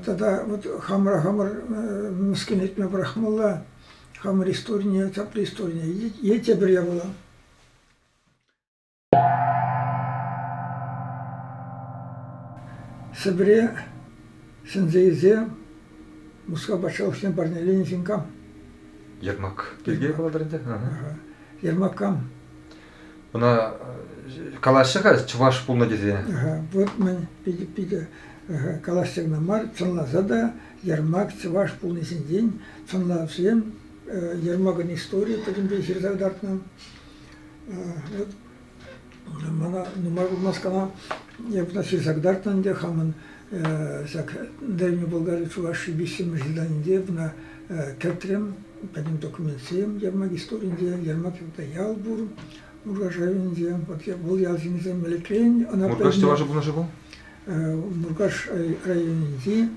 Тата вот хамӑра хамӑр мӗскӗн этме пӑрахмалла, хамӑр историне, тепӗр историне е тепӗр япала. Сӗпӗре ҫӗнсе илсе Мускав патшалӑхне парнеленӗ ҫын кам? Ермак пирки калатӑр ӗнтӗ. Ермак кам? Ӑна калаҫҫӗ-ха чӑваш пулнӑ тесе? Вот мӗн питӗ, питӗ калаҫса кӑна мар, сӑнласа та Ермак чӑваш пулни ҫинчен сӑнлавсем Ермакӑн историйӗ пӗтӗмпе ҫырса кӑтартнӑ. Вот мана нумай пулмасть кӑна я ҫырса кӑтартнӑ ӗнтӗ хамӑн Ҫак Дальнюю Болгарию Чувашии виҫҫӗмӗш зданинче мына кӗртрӗм. Пӗтӗм документсем Ермак историйӗнче, Ермак ял пур, Муркаш районӗнче. Вот вӑл ял ҫинче мелекрен ӑна... Муркаш чӑваш пурнӑҫӗ пул? Муркаш районӗнчи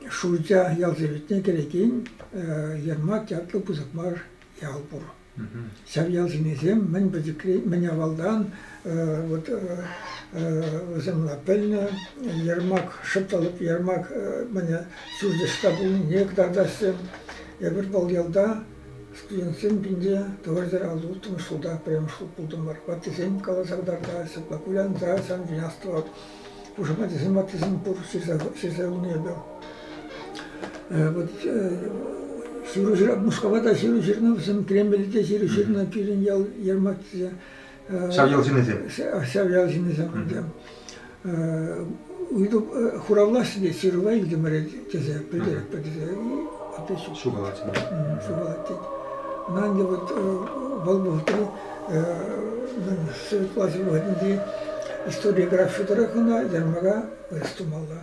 Шурча ял советне кӗрекен Ермак ятлӑ пысӑк мар ял пур. Ҫак ялсенчисем мӗн пӗчӗкри, мӗн авалтан вот вӑсӑмла пӗлнӗ ярмак, шӑпталӑк ярмак мӗне ҫурчӑшка пулнине кӑтартаҫҫӗ. Эпир вӑл ялта студентсем пинче тӑватӑр улттӑмӗш ҫулта пӗрремӗш хут пултӑмӑр. Ваттисем каласа кӑтартаҫҫӗ, ҫапла кулянса ҫавӑн чухне астӑвап. Пушамат исламаттисем пур ҫырса хунӑ эпӗ. Вот ҫыру Мускава та ҫыру ҫырнӑ вӗсем, Кремльте те ҫыру ҫырнӑ, пирӗн ял Ермаксӗ. Ҫав ял ҫыннисем? Ҫав ял ҫыннисем. Ыйту хуравлаҫҫӗ те ҫырӑва илтӗмӗр тесе пӗлтеретпӗр тесе опять шукалать. Шукалать тет. Ӑна ӗнтӗ вот вӑл вӑхӑтри Светлаҫӑв хӑйӗнчи историографи тӑрӑх ӑна ярмӑка вырӑс тумалла.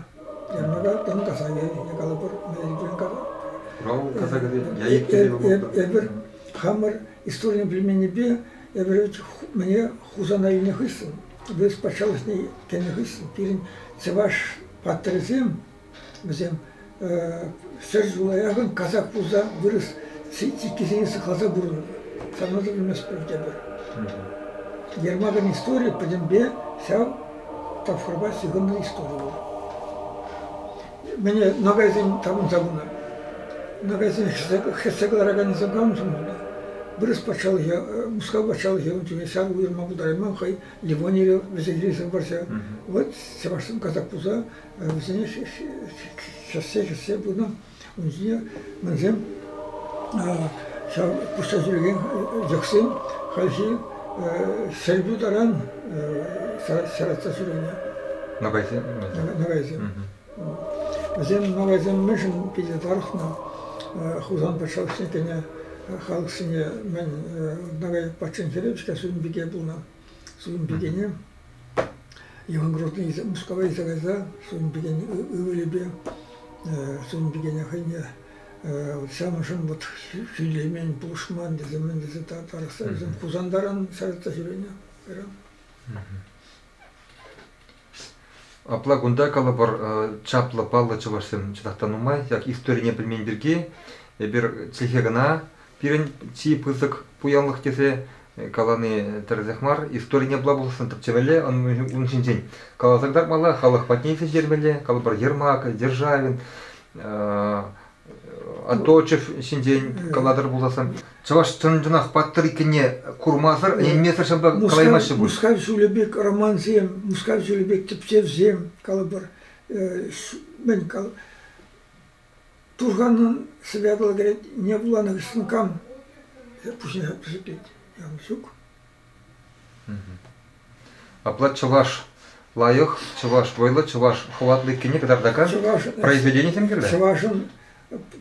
Ярмӑка тӑн касаки калӑпӑр. Хурал касакӗ те Эпир хамӑр историне пӗлменнипе эпир мӗне Хусана илнӗ хыҫҫӑн, вырӑс патшалӑхне кӗнӗ хыҫҫӑн пирӗн чӑваш паттӑрӗсем Вӗсем ҫӗр ҫула яхӑн касак пулса вырӑс чиккисене сыхласа пурӑннӑ. Санатӑн ӗмӗтсӗр тепӗр. Ермакӑн историйӗ пӗтӗмпе ҫав тапхӑрпа ҫыхӑннӑ истори пулнӑ. Мӗне нагайсен тапӑнса пынӑ. Нагайсен хӗссе кӑлараканӗсем кам пулнӑ? Вырӑс патшалӑхӗ, Мускав патшалӑхӗ ун чухне ҫар уйӑрма пултарайман, хӑй Ливонире вӗсе килсен вӑрҫӑ. Вӑл чӑвашсем казак пулса Вӗсене чӑтса чӗтсе пынӑ, ун ҫине мӗнсем ҫав пусса ҫӳрекен йӑхсем хальхи сӗлтӳ таран саратса ҫӳренӗ. Ногайсем? Ногайсем. Вӗсем ногайсем мӗншӗн питӗ тарӑхнӑ? Хусан патшалӑхне кӗнӗ халӑхсене мӗн ногай патшин хӗрӗ-ҫке сӳнпике пулнӑ. Сувӑн пикене Иван Грозный Мускава илсе кайса сувӑн пикен ывӑлӗпе сувӑн пикене хӑйне вот самӑшӑн вот сөйлемен, пулӑшман тесе мӗн тесе тарӑхса вӗсем Хусантаран сарӑтса ҫӳренӗ кайран. Апла кунта, калӑпӑр, чаплӑ паллӑ чӑвашсем чӑнах та нумай. Yak историне пӗлмен пирки эпир чӗлхе кӑна пирӗн чи пысӑк пуянлӑх тесе калани тӗрӗсех мар. Историне була пулсан тӗпчемелле, ун ҫинчен каласа кӑтартмалла, халӑх патне ҫитермелле. Калӑпӑр, Ермак, Державин, Оточев ҫинчен калатӑр пулсассӑн чӑваш чӑн-чӑнах паттӑр иккенне курмасӑр, ӗненмесӗр ҫапла калаймаҫҫӗ пуль. Мускав ҫулӗ пек романсем, Мускав ҫулӗ пек тӗпчевсем, калӑпӑр, мӗн кал Турханӑн святло кӗрет, не вуланӑ кӗскен кам пуҫне пӗсеклет. Ҫук. Апла чӑваш лайӑх, чӑваш вӑйлӑ, чӑваш хӑватлӑ иккенне кӑтартакан произведенисем кирлӗ? Чӑвашӑн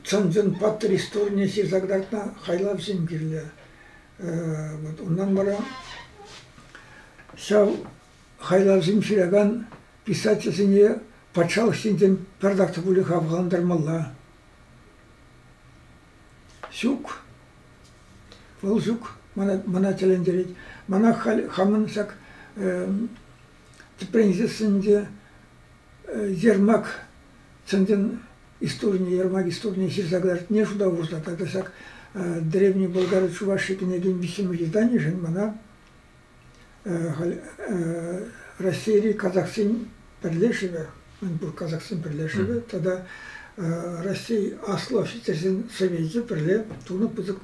чӑн-чӑн паттӑр историне ҫырса кӑтартнӑ хайлавсем кирлӗ. Вот унтан вара ҫав хайлавсем ҫыракан писательсене патшалӑх ҫинчен пӗр так та пулӗ хавхалантармалла. Ҫук. Вӑл ҫук. Мана, мана тӗлӗнтерет. Мана халь хамӑн ҫак тӗпренчӗксенче Ермак чӑн-чӑн историйӗ, Ермак историйӗ ҫырса кӑлартни шута хурса тата ҫак Древний Болгар Чувашии кӗнекен виҫҫӗмӗш изданийӗшӗн мана Раҫҫейри казахсен пӗрлешӗвӗ, мӗнпур казахсен пӗрлешӗвӗ тата Раҫҫей Аслӑ офицерсен совечӗ пӗрле тунӑ пысӑк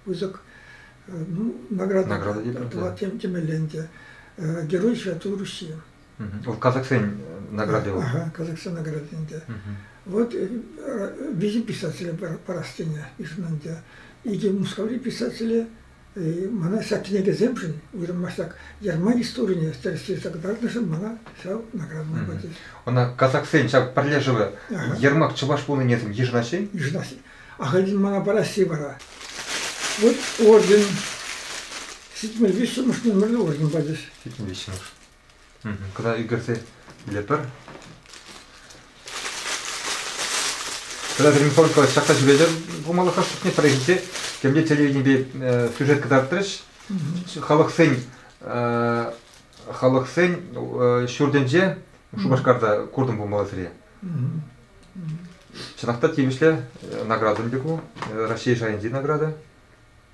пысӑк награда тӑвать темелле ӗнтӗ. Герой Святой Руси. Вӑл казахсен награди вӑл. Ага, казахсен награди ӗнтӗ. Вот виҫӗ писателе парас тенӗ ишӗн ӗнтӗ. Икӗ Мускаври писателе Мана ҫак кӗнекесемшӗн, уйрӑм масштаб Германи историне тӗрӗслесе кӑтартнӑшӑн мана ҫав наградӑна пачӗҫ. Ӑна казаксен ҫав пӗрле шывӗ Ермак чӑваш пулнинесем йышӑнаҫҫӗ-и? Йышӑнаҫҫӗ. Ахальтен мана парасси вара вот орден ҫитмӗл виҫҫӗмӗш нумерлӗ орден пачӗҫ. Ҫитмӗл виҫҫӗмӗш. Кӑна ӳкерсе илетпӗр. Кӑна гримфонка ҫакса ҫӳретӗр пулмалӑха шутне пӗрре ҫитсе темле телевиденипе сюжет кӑтартрӗҫ. Халӑхсен халӑхсен ҫуртӗнче Шупашкарта куртӑм пулмалла сире. Чӑнах та тивӗҫлӗ наградӑн пек ку. Раҫҫей шайӗнчи награда.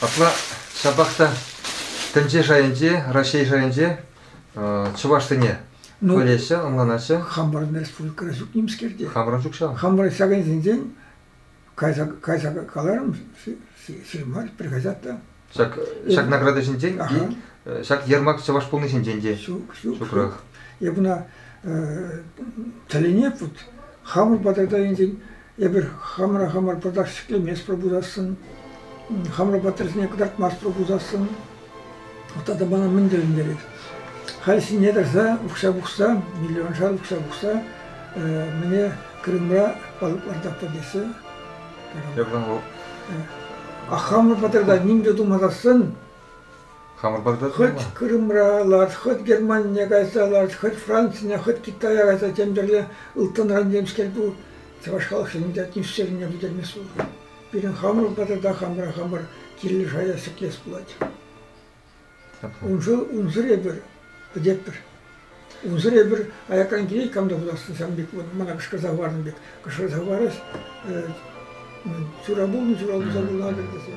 Апла ҫапах та тӗнче шайӗнче, Раҫҫей шайӗнче чӑвашсене ну, пӗлеҫҫӗ, ӑнланаҫҫӗ. Хамӑрӑн республикӑра ҫук нимскер те. Хамӑрӑн ҫук ҫав. Хамӑрӑн ҫакӑнсенчен кайса, кайса каларӑм ҫырмасть, приходят та. Ҫак, ҫак награда ҫинчен, ҫак ермак чӑваш пулни ҫинчен те. Ҫук, ҫук. Ҫукрах. Эп ӑна тӗлӗне вот хамӑр патарта инсен Эпир хамӑра хамӑр пӑртак ҫӗклеместпӗр пулсассӑн, хамӑр паттӑрсене кӑтартмастпӑр пулсассӑн тата мана мӗн тӗлӗнтерет? Халь ҫине тӑрса укҫа пухса, миллионшар укҫа пухса мӗне Крымра палӑк лартатпӑр теҫҫӗ. Э, Ахамлӑ пӑтӑрта ним те тумасассӑн Хамӑр патра хӑть Крымра лар, хӑть Германине кайса лар, хӑть Францине, хӑть Китая кайса тем тӗрле ылтӑнран темскер ку чӑваш халӑхсен атмосферине пӗтермест пуль. Пирӗн хамӑр патра та хамӑра хамӑр килӗшая ҫӗклес пулать. Ун ҫул унсӑр эпир пӗтетпӗр. Унсӑр эпир аякран килет кам та хутасшӑн сан пек вот мана кӑшкӑрса хӑварнӑ пек кӑшкӑрса хӑварас ҫура пулнӑ ҫура пулса кулатӑр тесе.